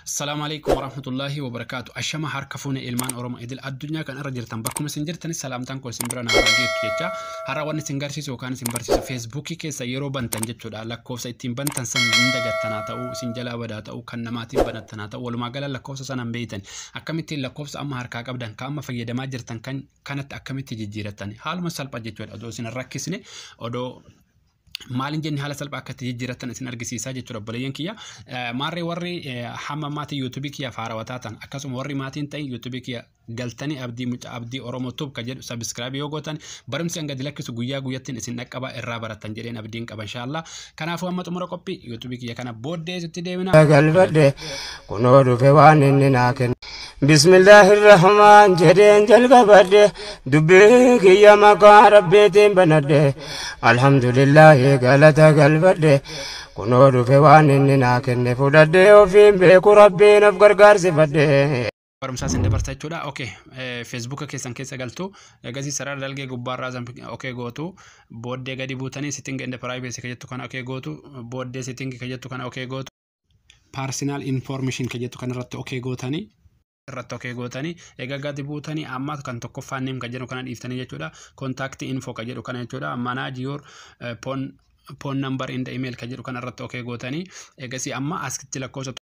Assalamu alaikum warahmatullahi wabarakatuh. Ashama harka fuune ilmaan Oromoo idil addunyaa kan irra jirtan bakkuma isin jirtani salaamtaan koo isin bira naa geettu jecha har'a waan isin garsiisu yookaan isin barsiisu feesbuukii keessa yeroo bantan jechuudha lakkoofsa ittiin bantan san hin dagattanaa ta'uu isin jalaa badaa ta'uu kan namaatiin banattanaa ta'uu walumaa gala lakkoofsa sana hin beeytan akkamittiin lakkoofsa amma harkaa qabdan kan amma fayyadamaa jirtan kan kanatti akkamitti jijjiirattan haaluma salphaa jechuudha odoo isin hin rakkisne odoo maaliin jenne haala salphaa akka itti jijjiirrattan isin argisiisaa jechuudha obboleeyyan kiyya. Maarree warri hamma maatii yuutuubii kiyya faarawwataa ta'an akkasuma warri maatiin ta'in yuutuubii kiyya galtanii abdii mucaa abdii oromoo tuub ka jedhu sabiskiraabii yoo gootan barumsi hanga dilakkisu guyyaa guyyattiin isin dhaqqabaa irraa barattan jedheen abdiin qaba inshaallah. Kanaafuu amma xumura qophii yuutuubii kiyya kana booddee itti deemina. galbadhe kunoo dhufe waan inni naa kenne. Bismillaahi Rahmaan jedheen jalqabadhe dubbii kiyya maqaa rabbiitiin banadhe alhamdulillaahi galata galfadhe kunoo dhufe waan inni naa kenne fudhadhe ofiin beeku rabbiin of gargaarsifadhe. barumsaa sin dabarsa jechuudha. Ok, feesbuuka keessan keessa galtu egasii sarara dalgee gubbaarraa san ok gootu booddee gadi buutanii sitting and privacy ka jettu kana ok gootu booddee sitting ka jettu kana ok gootu. Personal information kan jettu kanarratti okee gootanii irratti okee gootanii egaa gadi buutanii amma kan tokkoffaan neem kan jedhu kana dhiiftanii jechuudha contact info kan jedhu kana jechuudha manage your eh, phone phone number in the email kan jedhu kana irratti okee gootanii egasii amma askitti lakkoofsa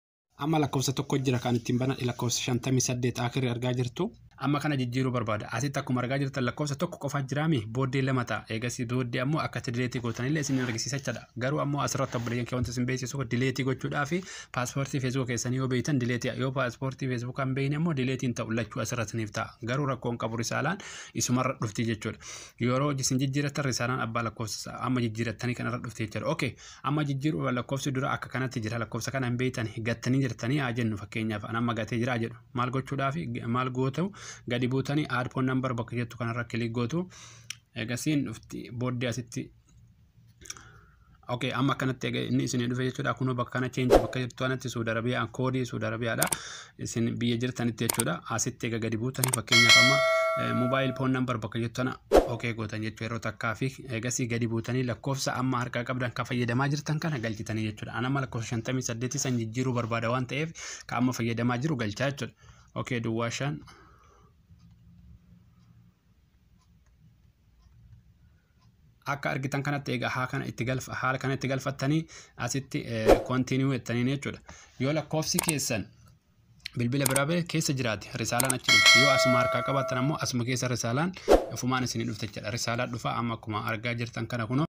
amma lakkoofsa tokko jira kan ittiin banan lakkoofsa 58 akirri argaa jirtu Amma kana jijjiiruu barbaada. Asitti akkuma argaa jirtan lakkoofsa tokko qofa jiraami booddee lama ta'a. Eegasii booddee ammoo akkatti dileetii gootanillee isin argisiisa jechaadha. Garuu ammoo asirratti obboleeyyan kee wanti isin beeksisu dileetii gochuudhaa fi paaspoortii feesbuuka keessanii yoo beektan dileetii yoo paaspoortii feesbuukaa hin beekne immoo dileetiin ta'u lachuu asirratti isiniif ta'a. Garuu rakkoon qabu risaalaan isumarra dhufti jechuudha. Yeroo isin jijjiirattan risaalaan abbaa lakkoofsa amma jijjiirattanii kanarra dhufti jechuudha. Okay amma jijjiiruu lakkoofsi dura akka kanatti jira lakkoofsa kana hin beektan gattanii jirtanii haa jennu fakkeenyaaf an amma gatee jira jedhu. maal gochuudhaaf maal gootu gadi buutanii add phone number bakka jettu kanarra kilik gootu eegasiin dhufti booddee asitti Okay, amma akkanatti egaa inni isin dhufe jechuudha. Kunoo bakka kana change bakka jirtu kanatti Suudi Arabiyaan koodii Suudi Arabiyaadha. Isin biyya jirtanitti jechuudha. Asitti egaa gadi buutanii fakkeenyaaf amma mobile phone number bakka jirtu kana okay gootan jechuudha. Yeroo takkaa fi eegasii gadi buutanii lakkoofsa amma harkaa qabdan kan fayyadamaa jirtan kana galchitanii jechuudha. An amma lakkoofsa 58 san jijjiiruu barbaada waan ta'eef ka amma fayyadamaa jiru galchaa jechuudha. Okay duwwaa shan. akka argitan kanatti egaa haa kana itti galfa haala kana itti galfattanii asitti kontinuu jettaniin jechuudha. Yoo lakkoofsi keessan bilbila biraa ba'e keessa jiraate risaalaan achi dhufa. Yoo asuma harkaa qabaattan ammoo asuma keessa risaalaan ofumaan isinii dhufte jechuudha. Risaalaa dhufa amma akkuma argaa jirtan kana kunoo.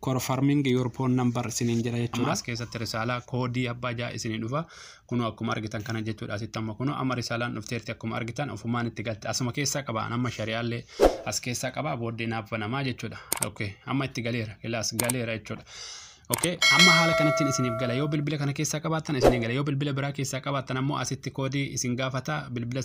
confirming your phone number isiniin jedha jechuudha. Ammaas keessatti risaalaa koodii abbaa ja'a isinii dhufa. Kunoo akkuma argitan kana jechuudha asitti amma kunoo amma risaalaan dhufteerti akkuma argitan ofumaan itti galte asuma keessaa qaba amma shari'aallee as keessaa qaba booddee naaf banamaa jechuudha. Okay amma itti galeera ilaas galeera jechuudha. Okay amma haala kanattiin isiniif gala yoo bilbila kana keessaa qabaattan isiniin gala yoo bilbila biraa keessaa qabaattan ammoo asitti koodii isin gaafata bilbila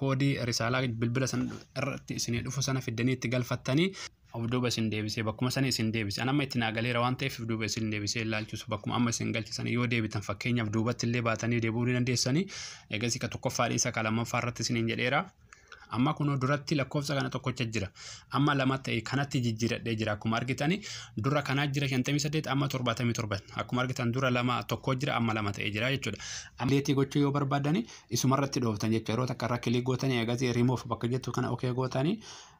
koodii risaalaa bilbila sana irratti isinii dhufu sana fiddanii itti galfattanii of duuba isin deebisee bakkuma sana isin deebise an amma itti naa galeera waan ta'eef of duuba isin deebisee ilaalchuus bakkuma amma isin galche sana yoo deebitan fakkeenyaaf duubatti illee baatanii deebi'uu ni dandeessanii eegasii ka tokkoffaa dhiisa ka lammaffaa irratti isiniin jedheera amma kunoo duratti lakkoofsa kana tokkocha jira amma lama ta'e kanatti jijjiiradhee jira akkuma argitani dura kanaa jira 58 amma 77 akkuma argitan dura lama tokko jira amma lama ta'e jira jechuudha amleetii gochuu yoo barbaadani isumarratti dhooftan jechuudha yeroo takka irra kilii gootanii eegasii remove bakka jettu kana okee gootanii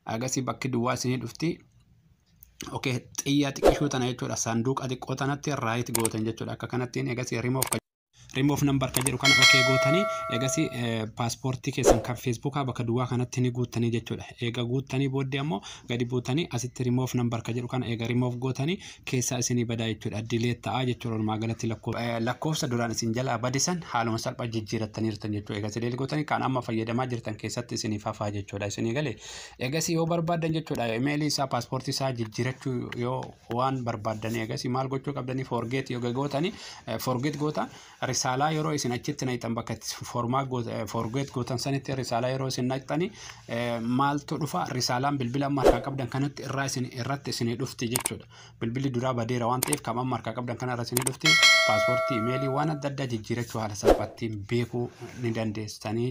Agasii bakki duwwaa isinii dhufti. Okay, xiyyaa xiqqishuu tana jechuudha. Saanduuqa xiqqoo tanatti raayit gootan jechuudha. Akka kanattiin egasii remove ka remove number ka jedhu kana okay gootanii egasii paaspoortii keessan kan feesbuukaa bakka duwwaa kanatti ni guuttanii jechuudha. Eega guuttanii booddee ammoo gadi buutanii asitti remove number ka jedhu kana eega remove gootanii keessaa isinii badaa jechuudha. Delete ta'a jechuudha walumaa galatti lakkoofsa. Eh, Lakkoofsa duraan isin jalaa bade san haaluma salphaa jijjiirattaniirtan jechuudha. Egaa delete gootanii kan amma fayyadamaa jirtan keessatti isiniif hafaa jechuudha. Isinii galee egasii yoo barbaaddan jechuudha imeelii isaa paaspoortii isaa jijjiirachuu yoo waan barbaaddan egasii maal gochuu qabdanii forget yoo gootanii eh, forget gootan Risaalaa yeroo isin achitti naqxan bakka itti formaa forgeet gootan sanitti risaalaa yeroo isin naqxani maaltu dhufa risaalaan bilbila amma harkaa qabdan kanatti irraa isin irratti isinii dhufti jechuudha. Bilbilli duraa badeera waan ta'eef kan amma harkaa qabdan kana irra isinii dhufti paaspoortii imeelii waan adda addaa jijjiirachuu haala salphaattiin beekuu ni dandeessanii.